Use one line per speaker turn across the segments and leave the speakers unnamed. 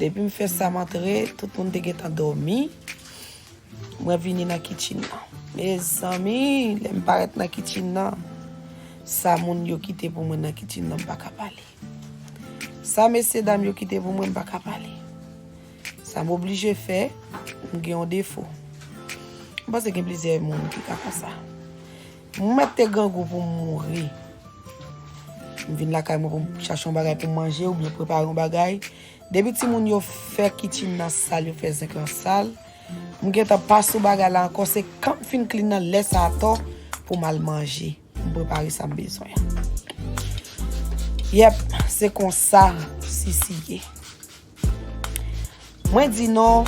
Depi m fè sa m antre, tout moun te gentan dòmi. Mwen vini nan kitchen nan. Mezanmi, lè m parèt nan kitchen nan, sa moun yo kite pou mwen nan kitchen nan m pa ka pale. Sa mesye dam yo kite pou mwen m pa ka pale. Sa m oblije fè, m gen yon defo. M panse gen plizyè moun ki ka fè sa. Mwen mèt te grangou pou m mouri. M vin lakay mwen pou m chache yon bagay pou m manje oubyen prepare yon bagay. Depi timoun yo fè kitchen nan sal, yo fè zinc lan sal, m gentan pa sou bagay la ankò, se kan m fin clean nan lè sa atò pou m al manje, pou m prepare sa m bezwen. Yep, se konsa Sissi ye. Mwen di nou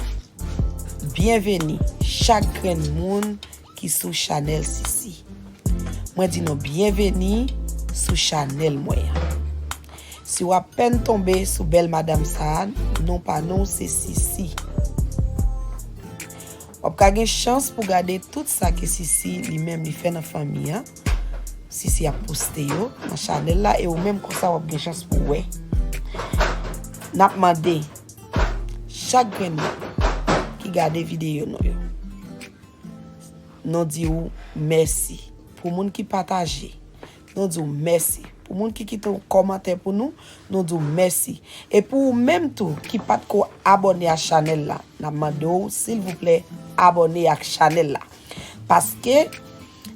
byenveni chak grenn moun ki sou chanèl Sisi. Mwen di nou byenveni sou chanèl mwen an. Si w apèn tonbe sou bèl madam sa a, non pa nou se Sisi. W ap ka gen chans pou gade tout sa ke Sisi li menm li fè nan fanmi an. Sisi ap poste yo nan chanel la e ou menm konsa wap gen chans pou wè. Nap mande chak grenn moun ki gade videyo nou yo. Nou di ou mèsi pou moun ki pataje. Nou di ou mèsi pou moun ki kite yon kòmantè pou nou. Nou di ou mèsi. E pou ou menm tou ki pat ko abone a chanel la. Nap mande ou silvouplè abone ak chanel la. Paske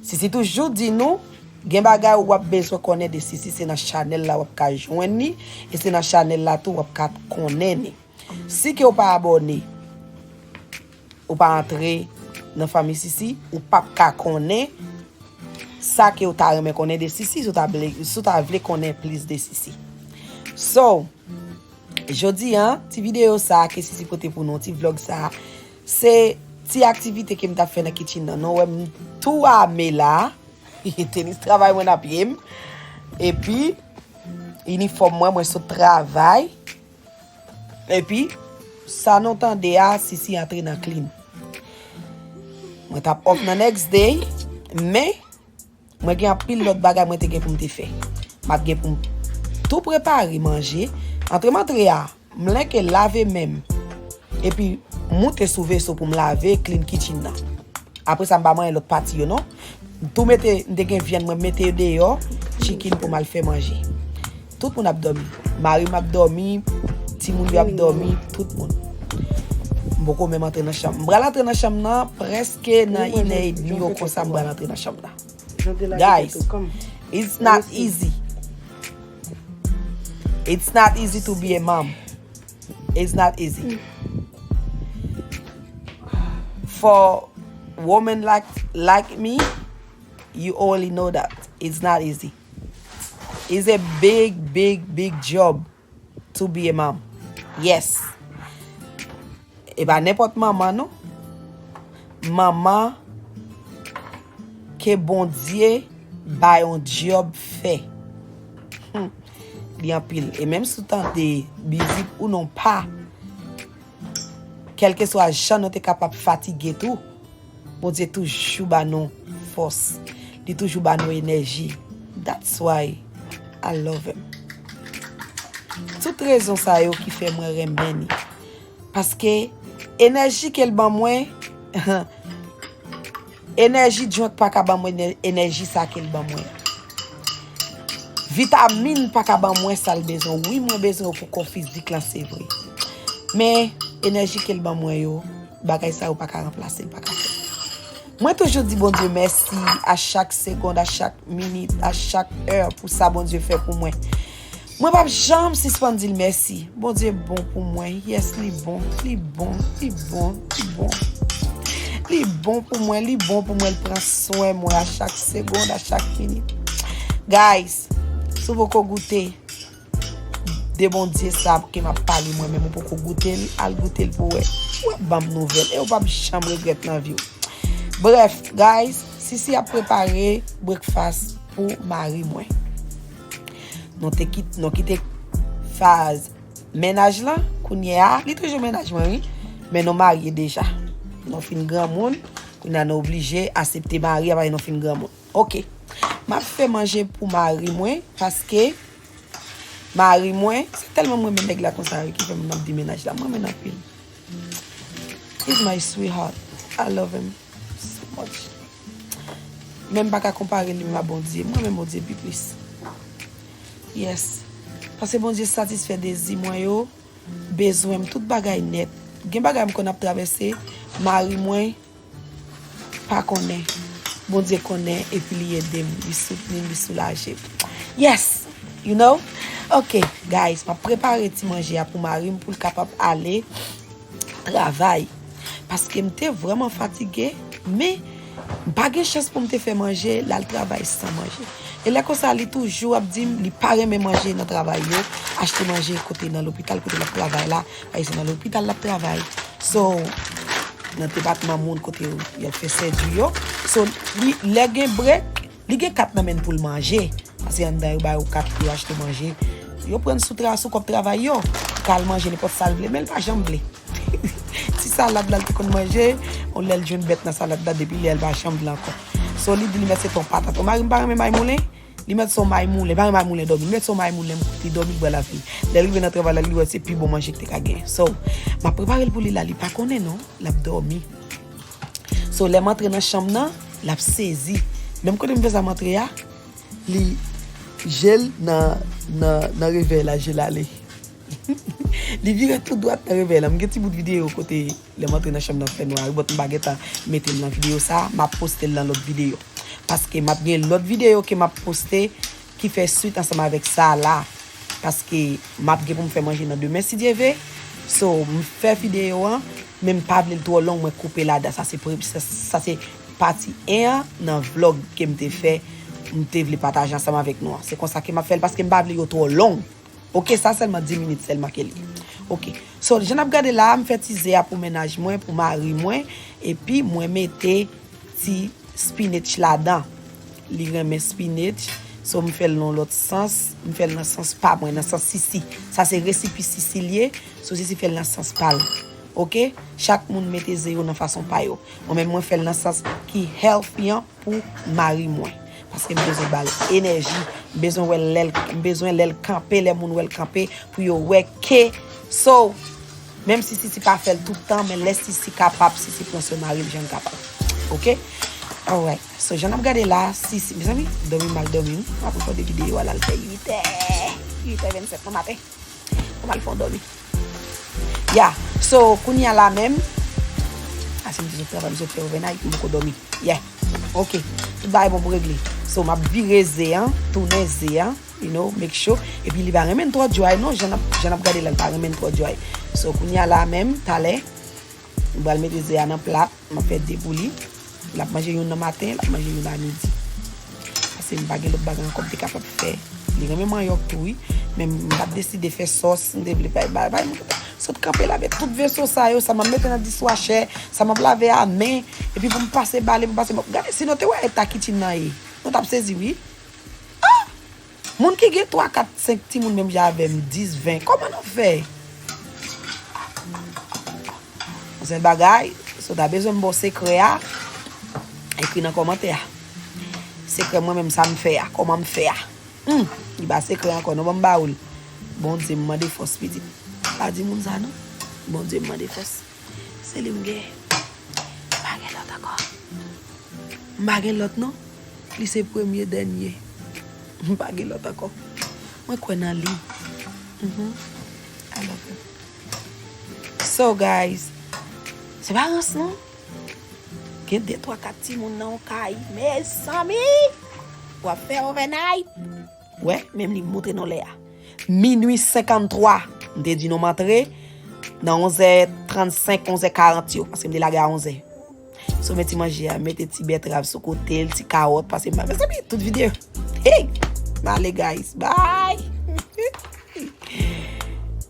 Sisi toujou di nou Gen bagay ou wap bezwen konnen de Sisi se nan chanèl la wap ka jwenn ni E se nan chanèl la tou wap ka konnen ni Si ke ou pa abòne Ou pa antre nan fanmi Sisi Ou pap ka konnen Sa ke ou ta renmen konnen de Sisi Si ou ta vle konnen plis de Sisi So Jodi an ti video sa ke Sisi pote pou nou Ti vlog sa Se ti aktivite kem tap fè nan kitchen nan non wèm tou ame la tenis travay mwen nan pyem epi inifòm mwen mwen sot travay epi sa nou tande a sisi antre nan klim mwen tap off nan next day men Mwen gen anpil lòt bagay mwen te gen pou m te fè. M ap gen pou m tou prepare manje, antre m antre a, m lenke lave men m, epi moute sou veso pou m lave klin kitchen nan. Apre sa m pa manyen lòt pati yo non. M tou mete, m te gen vyann mwen mete deyò, chikin pou m al fè manje. Tout moun ap dòmi. Mari m ap dòmi, timoun yo ap dòmi, tout moun. M poko menm antre nan chanm. M pral antre nan chanm nan prèske nan inè edmi yo konsa m pral antre nan chanm nan. Guys, it's not easy. It's not easy to be a mom. It's not easy. For woman like me, you already know that. It's not easy. Is a big big big job to be a mom yes e pa nenpòt manman non manman ke bondye bay yon job fè hum li anpil e menm sou tan de bizit ou non pa kelke swa jan nou te kapab fatige tou Bondye toujou ba nou fòs, li toujou ba nou enèji. That's why I love him. Tout rezon sa yo ki fè mwen renmen li. Paske enèji ke l ban mwen, enèji junk pa ka ban mwen enèji sa ke l ban mwen. Vitamine pa ka ban mwen sa l bezwen. Wi mwen bezwen yo pou kò fizik lan se vre. Men enèji ke l ban mwen yo. Bagay sa yo paka ranplase, paka fè. Mwen toujou di Bondye mèsi a chak segond, a chak minit, a chak è pou sa Bondye fè pou mwen. Mwen pap janm sispann di l mèsi. Bondye bon pou mwen. Yes li bon, li bon, li bon, li bon. Li bon pou mwen, li bon pou mwen, li pran swen mwen a chak segond, a chak minit. Guys, sou poko goute, de bondye sa ke map pale mwen menm ou poko goutel al goutel pou wè wè banm nouvel ew pap janm regret nan viw bref guys sisi ap prepare breakfast pou mari mwen nou te kit nou kite faz menaj lan kounye a li toujou menaj mwen wi men nou marye deja nou fin granmoun kounye a nou oblije asepte mari a paske nou fin granmoun Ok map fè manje pou mari mwen paske mari mwen se telman m renmen neg la konsa wi ki fè m ap di menaj la m renmen l anpil he is my sweetheart I love him so much men m pa ka konpare li menm a Bondye m renmen Bondye pi plis yes paske Bondye satisfè dezi mwen yo bezwen m tout bagay nèt gen bagay m konn ap travèse mari mwen Pa konnen. Bondye konnen epi li edem, li soutni, li soulajem. Yes! You know? Ok, guys, map prepare ti manje a pou marim poul kapab ale travay. Paske m te vreman fatige, men m pa gen chans pou m te fè manje, l al travay san manje. E lè konsa li toujou ap di m li pa renmen manje nan travay yo, achte manje kote nan lopital kote lap travay la. Ay se nan lopital lap travay so nan depatman moun kote yo fè sèjri yo so li lè gen brek li gen kat nan menn poul manje pase anndan yo ba yo kat pou yo achte manje yo prann sou tra sou kòb travay yo pou kal manje nenpòt sal vle menl pa janm vle ti salad lal te konn manje on lèl jwenn bèt nan salad la depi lèl pa janm vle ankò so li di li mèt se ton patat o marim pa renmen may moulen Li met son may moulen, pa gen may moulen domi. Li met son may moulen, li domi, li bwè la vi. Lè rive nan travay la, li wè se pi bon manje ki te ka gen. So, map prepare l pou li la, li pa konnen non, lap domi. So, lèm antre nan chanm nan, lap sezi. Menm kote m fè sa m antre a, li je l nan, nan, nan revèy la, je l ale. Li vire tout dwat nan revèy la. M gen ti bout videyo kote. Lèm antre nan chanm nan fè nwa wi but m pa gentan metel nan video sa map postel nan lòt video paske map gen lòt video ke map poste ki fè swit ansanm avèk sa la paske map gen poum fè manje nan demen si Dye ve so m fè video an men m pa vlel twò long mwen koupe ladan sa se pre sa se pati 1 an nan vlog kem te fè m te vle pataje ansanm avèk nou an se konsa ke map fèl paske m pa vle yo twò long. Ok sa selman 10 minit selman ke li ok so jan nap gade la mfè ti ze a pou mennaj mwen pou mari mwen epi mwen mete ti spinach ladan li renmen spinach so mfèl nan lot sans mfèl nan sans pa mwen nan sans sisi sa se resipi sisi li ye so sisi fèl nan sans pal ok chak moun mete ze yo nan fason pa yo mwen menm mwen fèl nan sans ki healthy an. pou mari mwen paske m bezwen bal enèji m bezwen wè lè m bezwen lè l kanpe lè moun wè l kanpe pou yo wè ke so menm si sisi pa fèl tout tan men lè sisi kapab sisi pran swen maril janl kapab ok alright so jan nap gade la sisi mezanmi domi mal domi wi m ap gade videyo a lal fè 8 è 8 è 27 nan maten. Ou pral fon domi. Ya. So, kounye a la menm. A se m di zot travay, m zot fè overnight, m poko domi. Ya. Ok. Tout bagay bon pou regle. So, m ap vire ze an, tounen ze an, you know, make sure. E pi li pa renmen twò dry non, jan n ap gade la, li pa renmen twò dry. So, kounye a la menm, talè. M pral mete ze a nan plat, m ap fè 2 pou li. L ap manje youn nan maten, l ap manje youn a midi. Pase m pa gen lòt bagay ankò m te kapab fè. Li renmen manyòk tou wi. Men m pa t deside fè sòs, m te vle bay bay. M sot kanpe lave tout veso sa yo, sa m ap mete nan diswachè, sa m ap lave a men. Epi pou m pase bale, pou m pase mòp. Gade si nou te wè eta kichin nan ye, nou t ap sezi wi. Ah! Moun ki gen 3 4 5 timoun menm jan avèm 10 20 kòman nap fè Zen bagay Si w ta bezwen m ba w sekrè a Ekri nan kòmantè a Sekrè mwen menm sa m fè a Kòman m fè a Humm li pa sekrè ankò non Ban m ba w l Bondye m mande fòs pitit Pa di moun sa non Bondye m mande fòs Se li m gen M pa gen lòt ankò M pa gen lòt non. Li se premye dènye. M pa gen lòt ankò. Mwen kwè nan li. I love him. So guys. Se pa rans non. Gen de twa kat timoun nan yon kay. Mezanmi! Wap fè overnight? Wè, menm li moutre nou lè a. Minui 53, m te di nou m antre nan 11 è 35, 11 è 40 yo, paske m te lage a 11 è. Sove ti manje a, mete ti bètrav sou kote l, ti kawòt, pase m ba. Mezanmi, tout videyo. Hey! M ale guys. Bye!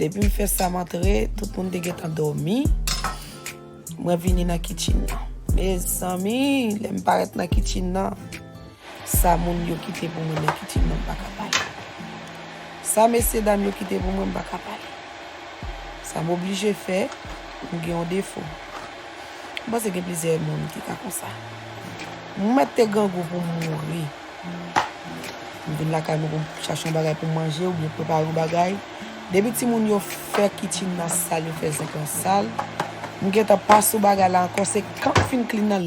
Depi m fè sa m antre, tout moun te gentan dòmi. Mwen vini nan kitchen nan. Mezanmi, lè m parèt nan kitchen nan, sa moun yo kite pou mwen nan kitchen nan m pa ka pale. Sa mesye dam yo kite pou mwen m pa ka pale. Sa m oblije fè, m gen yon defo. M panse gen plizyè moun ki ka konsa. M mèt te grangou pou m mouri. M vin lakay mwen pou m chache yon bagay pou m manje oubyen prepare yon bagay. Depi timoun yo fè kichin nan sal, yo fè zinc lan sal, m gentan pa sou bagay la ankò, se kan m fin klin nan.